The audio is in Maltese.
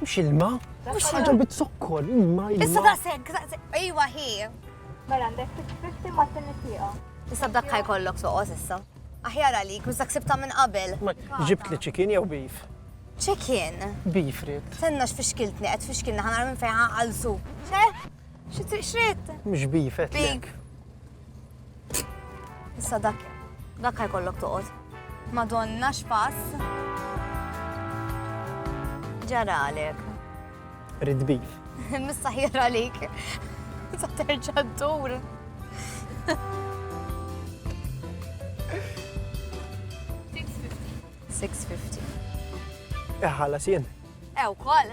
Mhux ilma. Mhux ħaġa bit-zokkor, ilma. Issa daqshekk, daqshekk. Ejwa hi. Mela għandek 650 ma' tinnisieqa. Issa b'dak ħaj kollok soqos issa. Aħjar għalik, mhux dak sibta minn qabel. Ġibt li ċikin jew beef? Ċikin. Beef rid. Tenna x'fixkiltni qed fixkilni ħanar minn fejn ħaqalsu. Xi triq xrid? Mhux beef qed. Beef. Issa dak, dak ħajkollok toqgħod. Madonna x'pass. Ġaralek. Rid beef. Missa ħjera għalik. Sa terġa' ddur. Six fifty. Iħallas jien. Ew, koll.